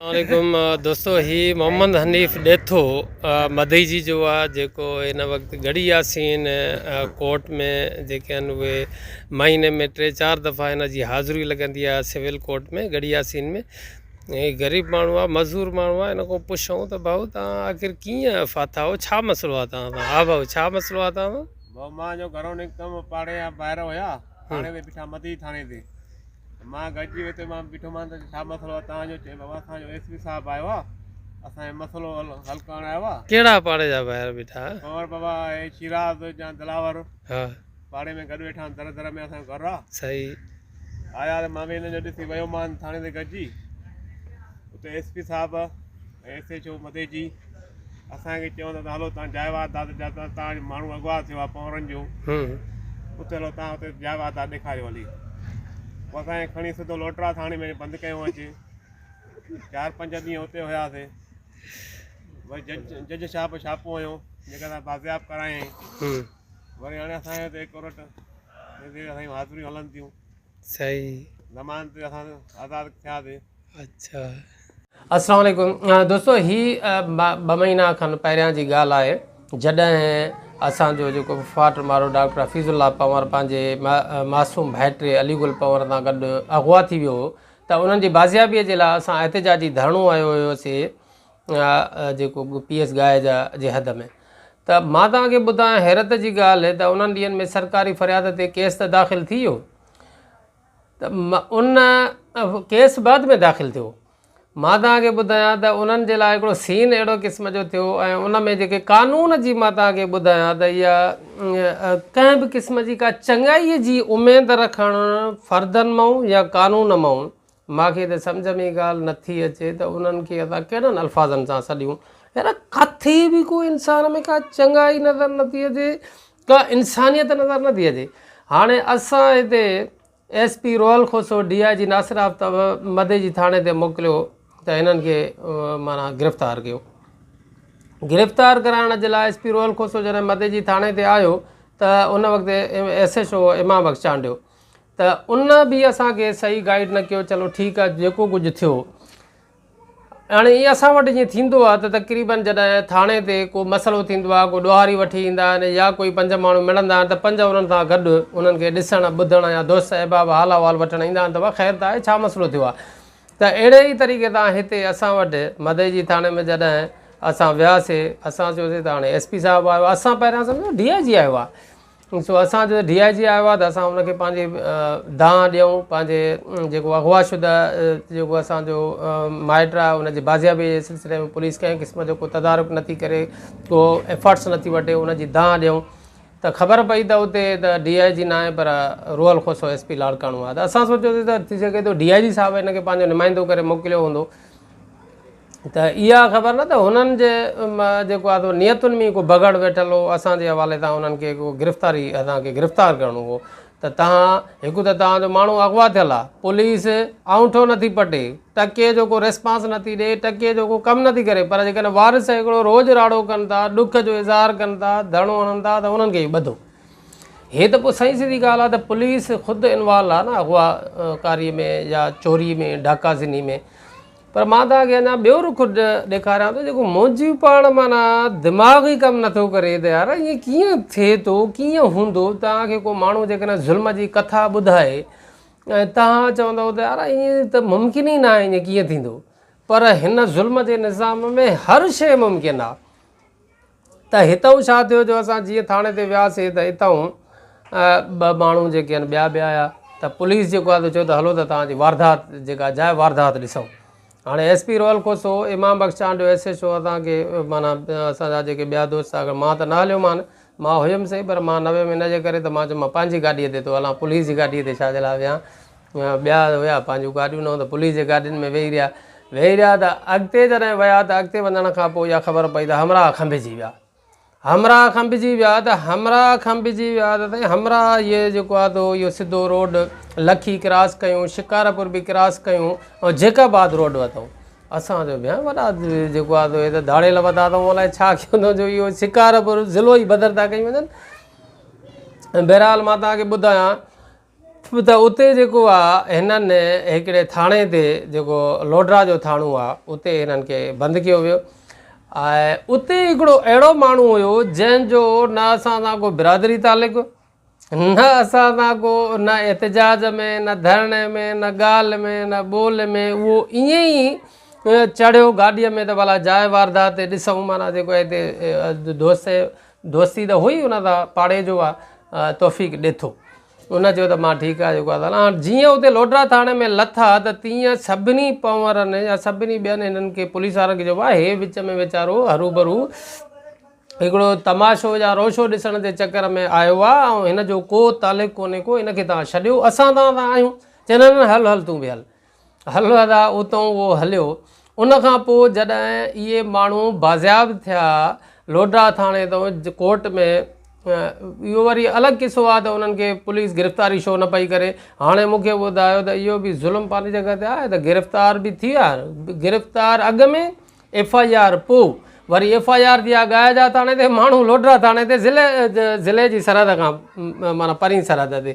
عليڪم دوستو هي محمد حنيف ڏيٿو مدئي جي جو آ جيڪو ان وقت گڙي ياسين ڪورٽ ۾ جيڪي آهن اهي مهيني ۾ ٽي چار دفعا ان جي حاضري لڳندي آهي سول ڪورٽ ۾ گڙي ياسين ۾ هي غريب ماڻهو آهي مزور ماڻهو آهي ان کان پڇون ته ڀائو تان آخر ڪيئن فاتا هو ڇا مسئلو آهي تان سان ها ڀائو ڇا مسئلو آهي تان سان ڀائو مان جو گهرو نڪتم پاڙي جا ڀائر هيا ٿاڻي تي بيٺا مدئي ٿاڻي تي مان گڏجي ويٺو مان ٻيٺو مان ته ڇا مسئلو آهي تهان جو چئي بابا اسان جو ايس پي صاحب آيو آهي اسان جو مسئلو حل ڪرڻ آيو آهي ڪهڙا پاڙي جا ڀائر بيٺا ڪنور بابا اي شيراز جا دلاور ها پاڙي ۾ گڏ ويٺا در در ۾ اسان گهر آهي صحيح آيا مان به هن جو ڏسي ويو مان ٿاڻي تي گڏجي اتي ايس پي صاحب ايس ايڇ او مديجي اسان کي چيو ته هلو تان جاء وات داد جا تان تان ماڻهو اغوا ٿيو آ پنورن جو اتي هلو تان اتي جاء وات داد ڏيکاريو هلي پوء اسان کي کڻي سڌو لوٽرا ٿاڻي ۾ بند ڪيو اچي چار پنج ڏينهن اتي هياسي وري جج جج صاحب ڇاپو هنيو جيڪا اسان بازياب ڪرايائين وري هاڻي اسان هتي ڪورٽ ۾ اسان جون حاضريون هلن ٿيون سائين. نماز تي اسان آزاد ٿياسين. اچھا. السلام عليڪم دوستو هي ٻه مهينا کن پهريان جي ڳالهه آهي جڏهن اسان جو جيڪو فاٽ مارو ڊاڪٽر حفيظ الله پنور پنهنجي معصوم ڀائٽي علي گل پنور سان گڏ اغوا ٿي ويو هو ته انهن جي بازيابي جي لاء اسان احتجاجي ڌرڻو هنيو هيوسي يا جيڪو به پيس گاهه جا جي حد ۾. ته مان توهان کي ٻڌايان حيرت جي ڳالهه ته انهن ڏينهن ۾ سرڪاري فرياد تي ڪيس ته داخل ٿي ويو ته ان ڪيس بعد ۾ داخل ٿيو مان توهان کي ٻڌايان ته انهن جي لاء هڪڙو سين اهڙو قسم جو ٿيو ۽ ان ۾ جيڪي قانون جي مان توهان کي ٻڌايان ته يا ڪنهن به قسم جي ڪا چڱائي جي اميد رکڻ فردن مئون يا قانون مئون مان کي ته سمجهه ۾ ئي ڳالهه نه ٿي اچي ته انهن کي اسان ڪهڙن الفاظن سان سڏيون. يار ڪٿي به ڪو انسان ۾ ڪا چڱائي نظر نه ٿي اچي ڪا انسانيت نظر نه ٿي اچي هاڻي اسان هتي S P Rohal Khoso D I G Nasir Aftab Madeji ٿاڻي تي موڪليو ته هنن کي مانا گرفتار ڪيو گرفتار ڪرائڻ جي لاء ايس پي روحل کوسو جڏهن مدي جي ٿاڻي تي آيو ته ان وقت S S O Imam Bakhsh Chandio ته ان به اسان کي صحيح گائيڊ نه ڪيو چلو ٺيڪ آ جيڪو ڪجهه ٿيو هاڻي ايئن اسان وٽ جيئن ٿيندو آ ته تقريبن جڏهن ٿاڻي تي ڪو مسئلو ٿيندو آ ڪو ڏوهاري وٺي ايندا آهن يا ڪوئي پنج ماڻهو ملندا آهن ته پنج انهن سان گڏ انهن کي ڏسڻ ٻڌڻ يا دوست احباب حال احوال وٺڻ ايندا آهن ته وا خير ته آهي ڇا مسئلو ٿيو آ ته اهڙي ئي طريقي سان هتي اسان وٽ مدئجي ٿاڻي ۾ جڏهن اسان وياسي اسان چيوسي ته هاڻي ايس پي صاحب آيو آ اسان پهريان سمجهيو ڊي آء جي آيو آ سو اسان جو ڊي آء جي آيو آهي ته اسان ان کي پنهنجي دانهن ڏيون پنهنجي جيڪو اغوا شده جيڪو اسان جو مائٽ آهي ان جي بازيابي جي سلسلي ۾ پوليس ڪنهن قسم جو ڪو تدارڪ نه ٿي ڪري ڪو ايفرٽس نه ٿي وٺي ان جي دانهن ڏيون ته خبر پئي ته اتي ته ڊي آء جي نه آهي پر روحل کوسو ايس پي لاڙڪاڻو آهي ته اسان سوچيوسي ته ٿي سگهي ٿو ڊي آء جي صاحب ان کي پنهنجو نمائندو ڪري موڪليو هوندو ته اها خبر نه ته هنن جي جيڪو آهي نيتن ۾ ڪو بگهڙ ويٺل هو اسان جي حوالي سان انهن کي ڪو گرفتاري اسان کي گرفتار ڪرڻو هو ته تهان هڪ ته تهان جو ماڻهو اغوا ٿيل آهي پوليس آڱٺو نه ٿي پٽي ٽڪي جو ڪو ريسپانس نه ٿي ڏي ٽڪي جو ڪو ڪم نه ٿي ڪري پر جيڪڏهن وارث هڪڙو روز راڙو ڪن ٿا ڏک جو اظهار ڪن ٿا ڌرڻو هڻن ٿا ته انهن کي ئي ٻڌو هي ته پوء سائين سڌي ڳالهه آهي ته پوليس خود انوالو آهي نه اغوا ڪاري ۾ يا چوري ۾ ڊاڪا زني ۾ پر مان توهان کي اڃا ٻيو رخ ڏيکاريان ٿو جيڪو منهنجي پاڻ معنيٰ دماغ ئي ڪم نٿو ڪري ته يار ائين ڪيئن ٿئي ٿو ڪيئن هوندو توهان کي ڪو ماڻهو جيڪڏهن ظلم جي ڪٿا ٻڌائي ۽ توهان چوندو ته يار ائين ته ممڪن ئي ناهي ائين ڪيئن ٿيندو پر هن ظلم جي نظام ۾ هر شيء ممڪن آهي ته هتئون ڇا ٿيو جو اسان جيئن ٿاڻي تي وياسي ته اتئون ٻه ماڻهو جيڪي آهن ٻيا به آيا ته پوليس جيڪو آهي ته چيو ته هلو ته توهان جي واردات جيڪا جاء واردات ڏسئون هاڻي S P Rohal Khoso Imam Bakhsh Chandio S H O اسان کي مانا اسان جا جيڪي ٻيا دوست آهن مان ته نه هليو مان مان هيم سهي پر مان نه ويم ان جي ڪري ته مان چيم مان پنهنجي گاڏيء تي ٿو هلان پوليس جي گاڏيء تي ڇا جي لاء ويهان ٻيا هيا پنهنجون گاڏيون نه هو ته پوليس جي گاڏين ۾ ويهي رهيا ويهي رهيا ته اڳتي جڏهن ويا ته اڳتي وڃڻ کان پوء اها خبر پئي ته همراهه کنڀجي ويا همراهه کنڀجي ويا ته همراهه کنڀجي ويا ته سائين همراهه اهي جيڪو آ تو اهو سڌو روڊ لکي ڪراس ڪيون شڪارپور به ڪراس ڪيون ۽ جيڪب آباد روڊ وتو اسان جو بيان وڏا جيڪو آ تو هي ته ڌاڙيل وتا اٿئون الائي ڇا ڪيو اٿئون جو اهو شڪارپور ضلعو ئي بدر ٿا ڪيون وڃن بهرحال مان تهان کي ٻڌايان ته اتي جيڪو آ هنن هڪڙي ٿاڻي تي جيڪو لوڊرا جو ٿاڻو آ اتي هنن کي بند ڪيو ويو ۽ اتي هڪڙو اهڙو ماڻهو هيو جنهن جو نه اسان سان ڪو برادري تعلق نه اسان سان ڪو نه احتجاج ۾ نه ڌرڻي ۾ نه ڳالهه ۾ نه ٻولهه ۾ اهو ائين ئي چڙهيو گاڏيء ۾ ته ڀلا جاء واردات تي ڏسون معنيٰ جيڪو هتي دوستي دوستي ته هئي ان سان پاڙي جو آ توفيق ڏيٿو. ان چيو ته مان ٺيڪ آ جيڪو آ سا. جيئن اتي لوڍرا ٿاڻي ۾ لٿا ته تيئن سڀني پنورن يا سڀني ٻين هنن کي پوليس وارن کي چئبو آ هي وچ ۾ ويچارو هروڀرو هڪڙو تماشو يا روشو ڏسڻ جي چڪر ۾ آيو آ ۽ هن جو ڪو تعلق ڪونهي ڪو هن کي توهان ڇڏيو اسان توهان سان آهيون. چئي نه نه هل هل تون به هل. هل ادا اتئون اهو هليو. ان کان پوء جڏهن اهي ماڻهو بازياب ٿيا لوڊرا ٿاڻي تئون ڪورٽ ۾ اهو وري الڳ قصو آهي ته انهن کي پوليس گرفتاري شو نه پئي ڪري هاڻي مون کي ٻڌايو ته اهو به ظلم پنهنجي جڳهه تي آهي ته گرفتار به ٿي ويا گرفتار اڳ ۾ ايف آء آر پوء وري ايف آء آر ٿي آگايا جا ٿاڻي تي ماڻهو لوڍرا ٿاڻي تي ضلع ضلعي جي سرحد کان معنيٰ پرين سرحد تي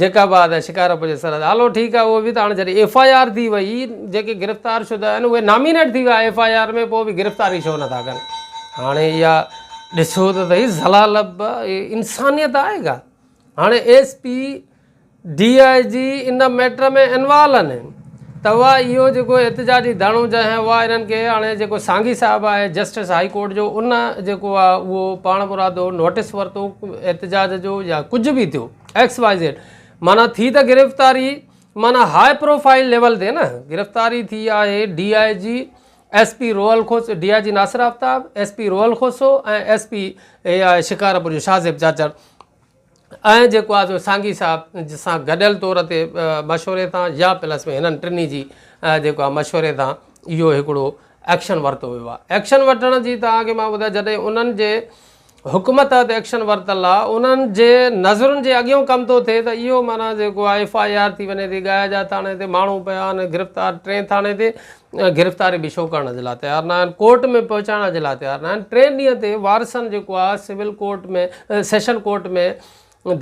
جيڪب آباد ۽ شڪارپور جي سرحد هلو ٺيڪ آهي اهو به ته هاڻي جڏهن ايف آء آر ٿي وئي جيڪي گرفتار شده آهن اهي نامينيٽ ٿي ويا ايف آء آر ۾ پوء به گرفتاري ڇو نٿا ڪن هاڻي اها ڏسو ته سهي ضلالت انسانيت آهي ڪا هاڻي S P D I G ان ميٽر ۾ انوالو آھن ته اھا اھو جيڪو احتجاجي ڌرڻو جا آھن اھا انھن کي ھاڻي جيڪو سانگي صاحب آھي جسٽس ھائي ڪورٽ جو ان جيڪو آ اھو پاڻمرادو نوٽس ورتو احتجاج جو يا ڪجھ به ٿيو ايڪس وائي زيڊ معنيٰ ٿي ته گرفتاري معنيٰ ھائي پروفائيل ليول تي نه گرفتاري ٿي آھي D I G S P Rohal Khoso D I G Nasir Aftab S P Rohal Khoso ۽ S P Shikarpur جو شاھزيب چاچڙ ۽ جيڪو آهي سو سانگي صاحب سان گڏيل طور تي مشوري تان يا پلس ۾ هنن ٽنهي جي جيڪو آهي مشوري تان اهو هڪڙو ايڪشن ورتو ويو آهي ايڪشن وٺڻ جي توهان کي مان ٻڌايان جڏهن انهن جي حڪم تحت ايڪشن ورتل آهي انهن جي نظرن جي اڳيون ڪم ٿو ٿئي ته اهو معنيٰ جيڪو آهي ايف آء آر ٿي وڃي ٿي ڳاهي جا ٿاڻي تي ماڻهو پيا آهن گرفتار ٽئين ٿاڻي تي گرفتاري به شو ڪرڻ جي لاء تيار ناهن، ڪورٽ ۾ پهچائڻ جي لاء تيار ناهن، ٽئين ڏينهن تي وارثن جيڪو آ سول ڪورٽ ۾ سيشن ڪورٽ ۾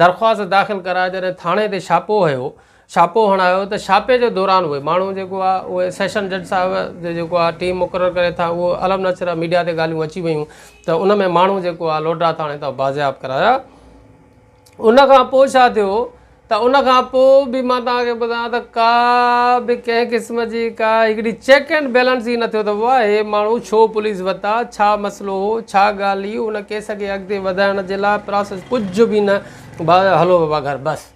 درخواست داخل ڪرائي جڏهن ٿاڻي تي ڇاپو هيو ڇاپو هڻايو ته ڇاپي جي دوران اهي ماڻهو جيڪو آ اهي سيشن جج صاحب جو جيڪو آ ٽيم مقرر ڪري ٿا اهو الم نشره ميڊيا تي ڳالهيون اچي ويون ته ان ۾ ماڻهو جيڪو آ لوڊرا ٿاڻي تان بازياب ڪرايا ان کان پوء ڇا ٿيو ته ان کان پوء به مان توهان کي ٻڌان ته ڪا به ڪنهن قسم جي ڪا هڪڙي چيڪ اينڊ بيلنس ئي نه ٿيو ته واء هي ماڻهو ڇو پوليس وتا ڇا مسئلو هو ڇا ڳالهه هئي ان ڪيس کي اڳتي وڌائڻ جي لاء پراسيس ڪجهه به نه بس هلو بابا گهر بس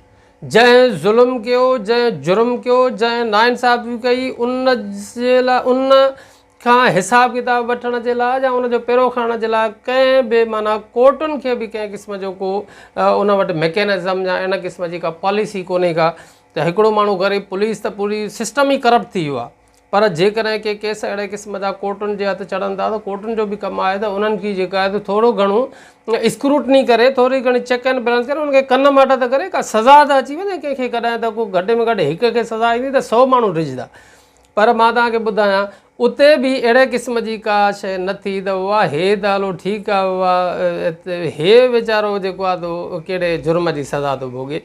جنهن ظلم ڪيو جنهن جرم ڪيو جنهن ناانصافي ڪئي ان جي لاء ان کان حساب ڪتاب وٺڻ جي لاء يا ان جو پيرو کڻڻ جي لاء ڪنهن به معنيٰ ڪورٽن کي به ڪنهن قسم جو ڪو ان وٽ ميڪينزم يا ان قسم جي ڪا پاليسي ڪونهي ڪا ته هڪڙو ماڻهو غريب پوليس ته پوري سسٽم ئي ڪرپٽ ٿي ويو آهي پر جيڪڏهن ڪي ڪيس اهڙي قسم جا ڪورٽن جي هٿ چڙهن ٿا ته ڪورٽن جو به ڪم آهي ته انهن کي جيڪا آهي ته ٿورو گهڻو اسڪروٽني ڪري ٿوري گهڻي چيڪ اينڊ بيلنس ڪري انهن کي ڪن ماٽ ته ڪري ڪا سزا ته اچي وڃي ڪنهن کي ڪڏهن ته ڪو گهٽ ۾ گهٽ هڪ کي سزا ايندي ته سو ماڻهو ڊڄندا پر مان توهان کي ٻڌايان اتي به اهڙي قسم جي ڪا شيء نه ٿي ته اها هي ته هلو ٺيڪ آهي اها هي ويچارو جيڪو آهي تو ڪهڙي جرم جي سزا ٿو ڀوڳي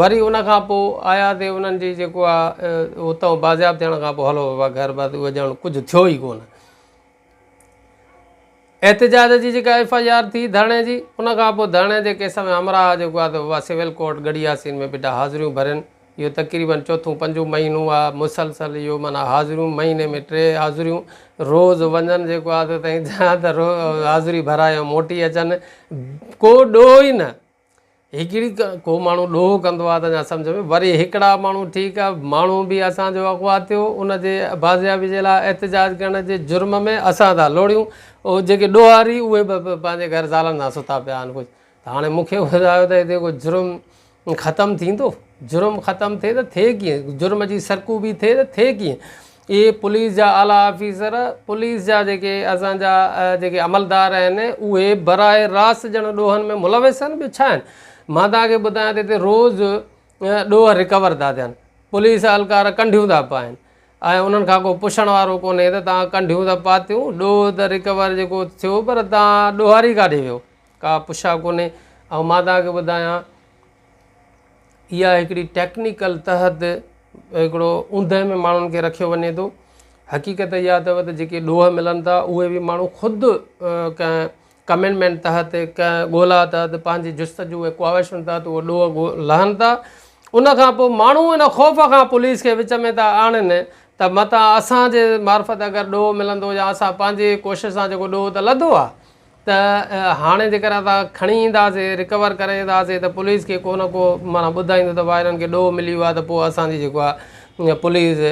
وري ان کان پوء آيا تي انهن جي جيڪو آهي اتان بازياب ٿيڻ کان پوء هلو بابا گهر بس اهو ڄڻ ڪجهه ٿيو ئي ڪونه احتجاج جي جيڪا ايف آء آر ٿي ڌرڻي جي ان کان پوء ڌرڻي جي ڪيس ۾ همراهه جيڪو آهي اها سول ڪورٽ ڳڙهي ياسين ۾ بيٺا حاضريون ڀرين اهو تقريبن چوٿون پنجون مهينو آهي مسلسل اهو معنيٰ حاضريون مهيني ۾ ٽي حاضريون روز وڃن جيڪو آهي تائين جا ته روز حاضري ڀرائي موٽي اچن ڪو ڏوهه ئي نه هڪڙي ڪو ماڻهو ڏوهه ڪندو آ ته اڃا سمجهه ۾ وري هڪڙا ماڻهو ٺيڪ آ ماڻهو به اسان جو اغوا ٿيو ان جي بازيابي جي لاء احتجاج ڪرڻ جي جرم ۾ اسان ٿا لوڙيون اهي جيڪي ڏوهاري اهي به پنهنجي گهر زالن سان ستا پيا آهن ڪجهه ته هاڻي مون کي ٻڌايو ته هتي ڪو جرم ختم ٿيندو جرم ختم ٿئي ته ٿئي ڪيئن جرم جي سرڪوبي ٿئي ته ٿئي ڪيئن اهي پوليس جا اعليٰ آفيسر، پوليس جا جيڪي اسان جا جيڪي عملدار آهن، اهي براء راست ڄڻ ڏوهن ۾ ملوث آهن، ٻيو ڇا آهن؟ مان توهان کي ٻڌايان ته هتي روز ڏوهه ريڪور ٿا ٿين، پوليس اهلڪار ڪنڍيون ٿا پائن ۽ انهن کان ڪو پڇڻ وارو ڪونهي ته توهان ڪنڍيون ته پاتيون، ڏوهه ته ريڪور جيڪو ٿيو پر توهان ڏوهاري ڪاڏي ويو؟ ڪا پڇا ڪونهي ۽ مان توهان کي ٻڌايان اها هڪڙي ٽيڪنيڪل تحت هڪڙو اوندهه ۾ ماڻهن کي رکيو وڃي ٿو حقيقت اها اٿو ته جيڪي ڏوهه ملن ٿا اهي بي ماڻهو خود ڪنهن ڪمينمينٽ تحت ڪنهن ڳولا تحت پنهنجي جستجو ۽ ڪواهشن تحت اهو ڏوهه لهن ٿا ان کان پوء ماڻهو ان خوف کان پوليس کي وچ ۾ ٿا آڻن ته متان اسانجي معرفت اگر ڏوهه ملندو يا اسان پنهنجي ڪوشش سان جيڪو ڏوهه ته لڌو آهي ته هاڻي جيڪر اسان کڻي اينداسين رڪور ڪري اينداسين ته پوليس کي ڪو نه ڪو معنيٰ ٻڌائيندو ته واهرن کي ڏوهه ملي ويو آهي ته پوء اسان جي جيڪو آهي پوليس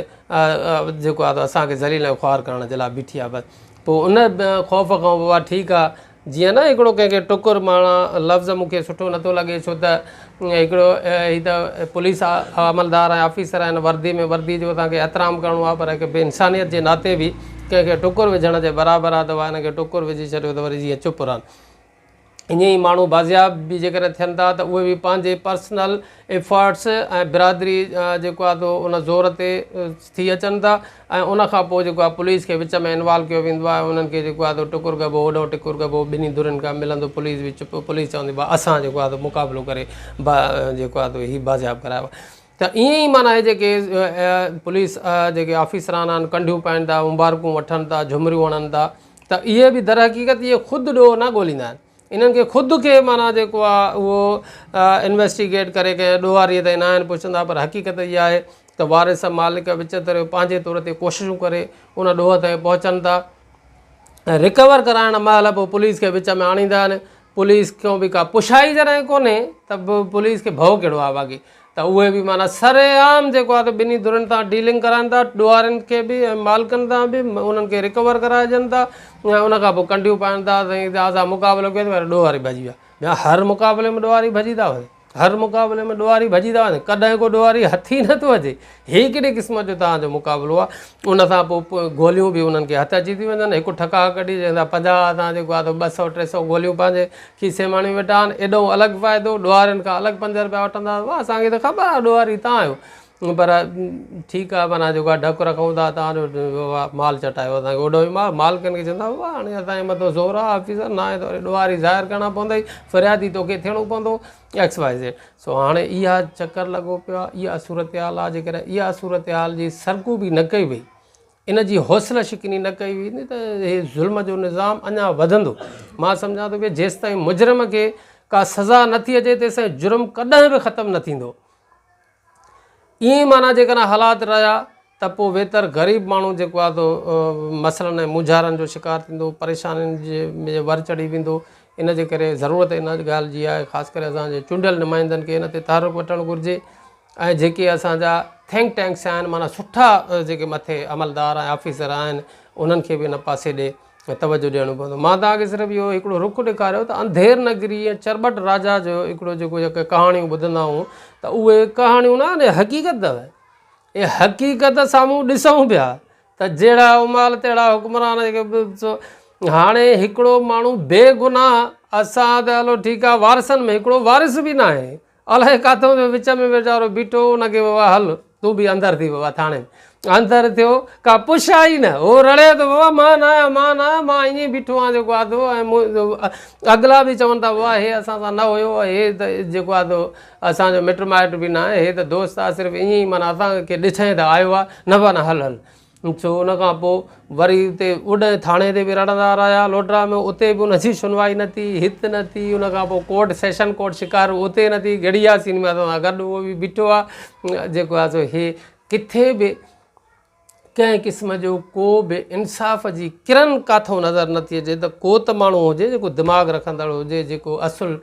جيڪو آهي اسان کي ذليل ۽ خوار ڪرڻ جي لاء بيٺي آهي پوء ان خوف کان بابا ٺيڪ آهي جيئن نه هڪڙو ڪنهن کي ٽڪر معنيٰ لفظ مون کي سٺو نٿو لڳي ڇو ته هڪڙو هي ته پوليس عملدار ۽ آفيسر آهن وردي ۾ وردي جو اسان کي احترام ڪرڻو آهي پر هڪ انسانيت جي ناتي به ڪنهن کي ٽڪر وجهڻ جي برابر آهي ته واهه هن کي ٽڪر وجهي ڇڏيو ته وري جيئن چپ رهن ائين ئي ماڻهو بازياب به جيڪڏهن ٿين ٿا ته اهي به پنهنجي پرسنل ايفرٽس ۽ برادري جيڪو آهي سو ان زور تي ٿي اچن ٿا ۽ ان کان پوء جيڪو آهي پوليس کي وچ ۾ انوالو ڪيو ويندو آهي انهن کي جيڪو آهي سو ٽڪر ڪبو هوڏانهن ٽڪر ڪبو ٻنهي ڌرين کان ملندو پوليس به چپ پوليس چوندي به اسان جيڪو آهي سو مقابلو ڪري با جيڪو آهي سو هي بازياب ڪرايو آهي ته ائين ئي معنيٰ هي جيڪي پوليس جيڪي آفيسران آهن ڪنڍيون پائين ٿا مبارڪون وٺن ٿا جهمريون هڻن ٿا ته اهي به درحقيقت اهي خود ڏوهه نه ڳوليندا آهن انهن کي خود کي معنيٰ جيڪو آهي اهو انويسٽيگيٽ ڪري ڪنهن ڏوهاريء تائين ناهن پهچندا پر حقيقت اها آهي ته وارث مالڪ وچتريو پنهنجي طور تي ڪوششون ڪري ان ڏوهه تائين پهچن ٿا ۽ ريڪور ڪرائڻ مهل به پوليس کي وچ ۾ آڻيندا آهن پوليس کان به ڪا پڇائي جڏهن ڪونهي ته پوليس کي ڀئو ڪهڙو آهي باقي ته اهي به معنيٰ سري عام جيڪو آهي ته ٻنهي ڌرين تان ڊيلنگ ڪرائن ٿا ڏوهارين کي به ۽ مالڪن تان به انهن کي رڪور ڪرائجن ٿا ۽ ان کان پوء ڪنڊيون پائن ٿا سائين جا سا مقابلو ڪيو ته ڏوهاري ڀڄي ويا ٻيا هر مقابلي ۾ ڏوهاري ڀڄي ٿا وڃن هر مقابلي ۾ ڏوهاري ڀڄي ٿا وڃن ڪڏهن ڪو ڏوهاري هٿ ئي نٿو اچي هي ڪهڙي قسم جو توهان جو مقابلو آهي ان سان پوء گوليون به انهن کي هٿ اچي ٿي وڃن هڪ ٺڪاء ڪڍي چون ٿا پنجاهه اسان جيڪو آهي سو ٻه سؤ ٽي سؤ گوليون پنهنجي کيسي ماڻي ويٺا آهن ايڏو الڳ فائدو ڏوهارين کان الڳ پنج رپيا وٺندا واهه اسان کي ته خبر آهي ڏوهاري تان آهيو پر ٺيڪ آهي مانا جيڪو آهي ڊپ رکون ٿا تان جو مال چٽايو اسان کي اوڏو مال مالڪن کي چون ٿا واهه هاڻي اسان جي مٿو زور آهي آفيسر ناهي ته وري ڏوهاري ظاهر ڪرڻا پوندئي فريادي توکي ٿيڻو پوندو ايڪس وائي زيڊ سو هاڻي اها چڪر لڳو پيو آهي اها صورتحال آهي جيڪڏهن اها صورتحال جي سرڪوبي نه ڪئي وئي ان جي حوصله شڪني نه ڪئي ويندي ته هي ظلم جو نظام اڃا وڌندو مان سمجهان ٿو ڪي جيستائين مجرم کي ڪا سزا نٿي اچي تيستائين جرم ڪڏهن به ختم نه ٿيندو ائين معنيٰ جيڪڏهن حالات رهيا ته پوء ويتر غريب ماڻهو جيڪو آهي سو مسئلن ۽ مونجهارن جو شڪار ٿيندو، پريشانين جي ۾ ور چڙهي ويندو. ان جي ڪري ضرورت ان ڳالهه جي آهي خاص ڪري اسان جي چونڊيل نمائندن کي ان تي تحرڪ وٺڻ گهرجي ۽ جيڪي اسان جا ٿنڪ ٽينڪس آهن معنيٰ سٺا جيڪي مٿي عملدار ۽ آفيسر آهن انهن کي به ان پاسي ڏي توجه ڏيڻو پوندو مان توهان کي صرف اهو هڪڙو رخ ڏيکاريو ته انڌير نگري ۽ چرٻٽ راجا جو هڪڙو جيڪو جيڪي ڪهاڻيون ٻڌندا آهيون ته اهي ڪهاڻيون نه آهن حقيقت اهي اهي حقيقت سامهون ڏسون پيا ته جهڙا امال تهڙا حڪمران جيڪي هاڻي هڪڙو ماڻهو بي گناهه اسان ته هلو ٺيڪ آهي وارثن ۾ هڪڙو وارث به ناهي الائي ڪاٿو ويو وچ ۾ ويچارو بيٺو ان کي بابا هل تون به اندر ٿي بابا ٿاڻي ۾ اندر ٿيو ڪا پڇ آئي نه هو رڙي ٿو بابا مان نه آهيان مان نه آهيان مان ائين بيٺو آهيان جيڪو آدو اڳلا به چون ٿا بابا هي اسان سان نه هيو هي ته جيڪو آدو اسانجو مٽ مائٽ به نه آهي هي ته دوست آهي صرف ائين معنيٰ اسان کي ڏٺائين ته آيو آهي نه معنيٰ هل هل ڇو ان کان پوء وري اتي اوڏهين ٿاڻي تي به رڙندا رهيا لوڊرا ۾ اتي به ان جي شنوائي نه ٿي هت نه ٿي ان کان پوء ڪورٽ سيشن ڪورٽ شڪارو اتي نه ٿي گهڙي ياسين به اسان سان گڏ هو به بيٺو آهي جيڪو آهي سو هي ڪٿي به ڪنهن قسم جو ڪو به انصاف جي ڪرن ڪاٿو نظر نٿي اچي ته ڪو ته ماڻهو هجي جيڪو دماغ رکندڙ هجي جيڪو اصل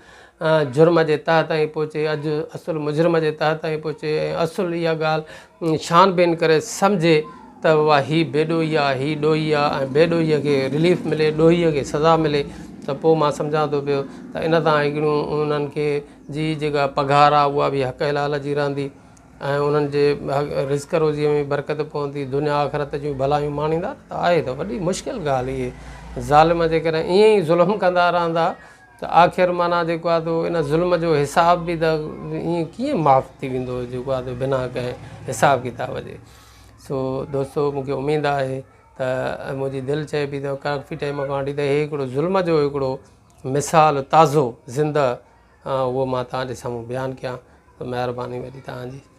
جرم جي تهه تائين پهچي اڄ اصل مجرم جي تهه تائين پهچي ۽ اصل اها ڳالهه ڇان بين ڪري سمجهي ته واهه هي بي ڏوهي آ هي ڏوهي آ ۽ بي ڏوهي کي رليف ملي ڏوهي کي سزا ملي ته پوء مان سمجهان ٿو پيو ته ان تان هڪڙيون انهن کي جي جيڪا پگهار آ اها به حق حلال جي رهندي ۽ انهن جي رزق روزي ۾ برڪت پوندي دنيا آخرت جون ڀلايون ماڻيندا ته آهي ته وڏي مشڪل ڳالهه اهي ظالم جيڪڏهن ائين ئي ظلم ڪندا رهندا ته آخر معنيٰ جيڪو آهي تو ان ظلم جو حساب به ته ائين ڪيئن معاف ٿي ويندو جيڪو آهي تو بنا ڪنهن حساب ڪتاب جي سو دوستو مون کي اميد آهي ته منهنجي دل چئي پئي ته ڪافي ٽائيم کان وٺي ته هي هڪڙو ظلم جو هڪڙو مثال تازو زندهه اهو مان تهانجي سامهون بيان ڪيان ته مهرباني وڏي تهانجي